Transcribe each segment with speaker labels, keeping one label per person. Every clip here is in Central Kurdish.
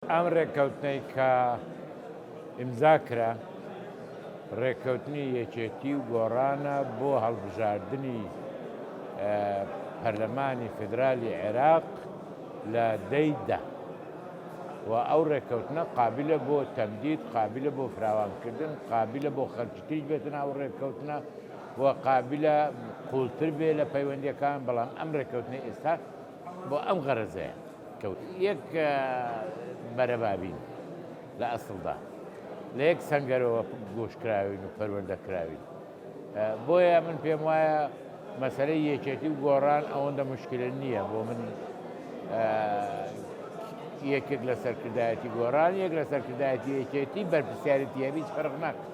Speaker 1: ئەم رێککەوتنەی کە ئیمزا کرا، رێککەوتنی یەکێتی و گۆڕانە بۆ هەڵبژاردنی پەرلەمانی فیدرالی عێراق لە دەی دە و ئەو رێککەوتنە قابلە بۆ تەمدید، قابلە بۆ فراوانکردن، قابلە بۆ خەڵکی تریش بێتە ناو رێککەوتنە و قابلە قووڵتر بێ لە پەیوەندییەکان، بەڵام ئەم رێککەوتنەی ئێستا، بۆ ئەم غەرەزەیە کەوت یەک بەرەبابین لە ئەسڵدا لە یەک سەنگەرەوە گۆشکراوین و پەروەندە کراوین بۆیە من پێم وایە مەسەرەی یەکێتی و گۆڕان ئەوەندە مشکلە نییە بۆ من یەکێک لە سەرکردایەتی گۆڕان یەک لە سەرکردایەتی یەکێتی بەرپسیارەتی هەویست فەرق ناکە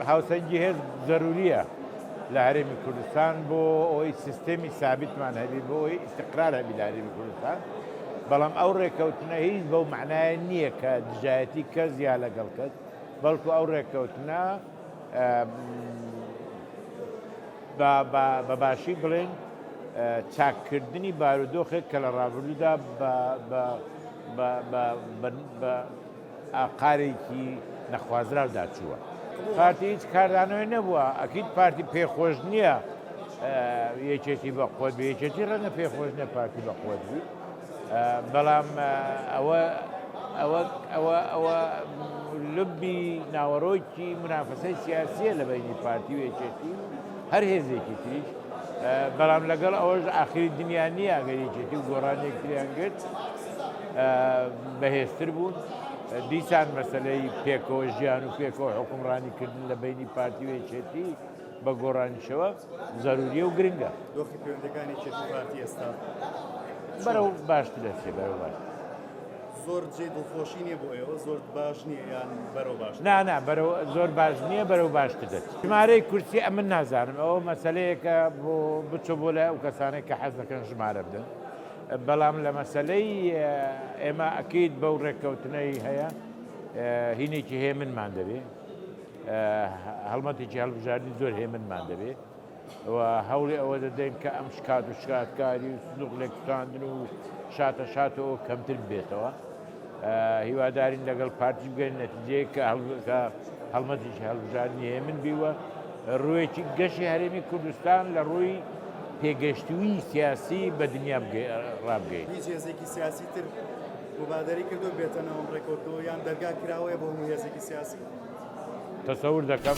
Speaker 1: هاوسەنگی هێز زەروریە لە هەرێمی کوردستان بۆ ئەوەی سیستێمی سابتمان هەبی بۆ ئەوەی ئیسقرار هەبی لە هەرێمی کوردستان بەڵام ئەو ڕێککەوتنە هیچ بەو معناە نییە کە دژایەتی کەس یا لەگەڵ کەس بەڵکو ئەو ڕێککەوتنە بە باشی بڵێن چاککردنی بارودۆخێک کە لە ڕابردوودا بە ئاقارێکی نەخوازراودا چووە پارتی هیچ کاردانەوەی نەبووە ئەکیید پارتی پێخۆش نییە یەکێتی بە خۆت یەکێتی ڕەنە پێخۆش نە پارتی بە خۆت بوو بەڵام ئەوە ئەوە ئەوە ئەوە لبی ناوەڕۆکی منافەسەی سیاسیە لە بینی پارتی و یەکێتی هەر هێزێکی تریش بەڵام لەگەڵ ئەوەش ئاخری دنیا نییە ئەگەر یەکێتی و گۆڕانێک تریان گرت بەهێزتر بوون دیسان مەسلەی پێکەوە ژیان و پێکەوە حکومڕانی کردن لە بینی پارتی وێچێتی بە گۆڕانیشەوە زەروریە و گرنگە دۆخی پەیوەندەکانی
Speaker 2: چێتی پارتی ئێستا بەرەو
Speaker 1: باشتر دەچێ بەرەو باش. زۆر
Speaker 2: جێی دڵخۆشی نیە بۆ ئێوە زۆر باش نیە یان بەرەو باش نا نا بەرەو زۆر
Speaker 1: باش نییە بەرەو باشتر دەچێت ژمارەی کورسی ئەمن نازانم ئەوە مەسلەیەکە بۆ بچۆ بۆ لای ئەو کەسانێک کە حەز دەکەن ژمارە بدەن بەڵام لە مەسلەی ئێمە ئەکەیت بەو ڕێککەوتنەی هەیە هینێکی هێمنمان دەبێ هەڵمەتێکی هەڵبژاردنی زۆر هێمنمان دەبێ و هەوڵی ئەوە دەدەین کە ئەم شکات و شکاتکاری و سندوق لێکتراندن و شاتە شاتەوە کەمتر بێتەوە هیوادارین لەگەڵ پارتی بگەن نەتیجەیە کە هەڵکە هەڵمەتیش هەڵبژاردنی هەیە من بیوە ڕوویەکی گەشی هەرێمی کوردستان لە ڕووی پێگەشتووی سیاسی بە دنیا ڕابگەیت هیچ هێزێکی سیاسی
Speaker 2: تر مبادری کردو بێتەنەوە ڕێکۆتەوە یان دەرگا کراوەیە بۆ هێزێکی
Speaker 1: سیاسی
Speaker 2: تەسەور دەکەم.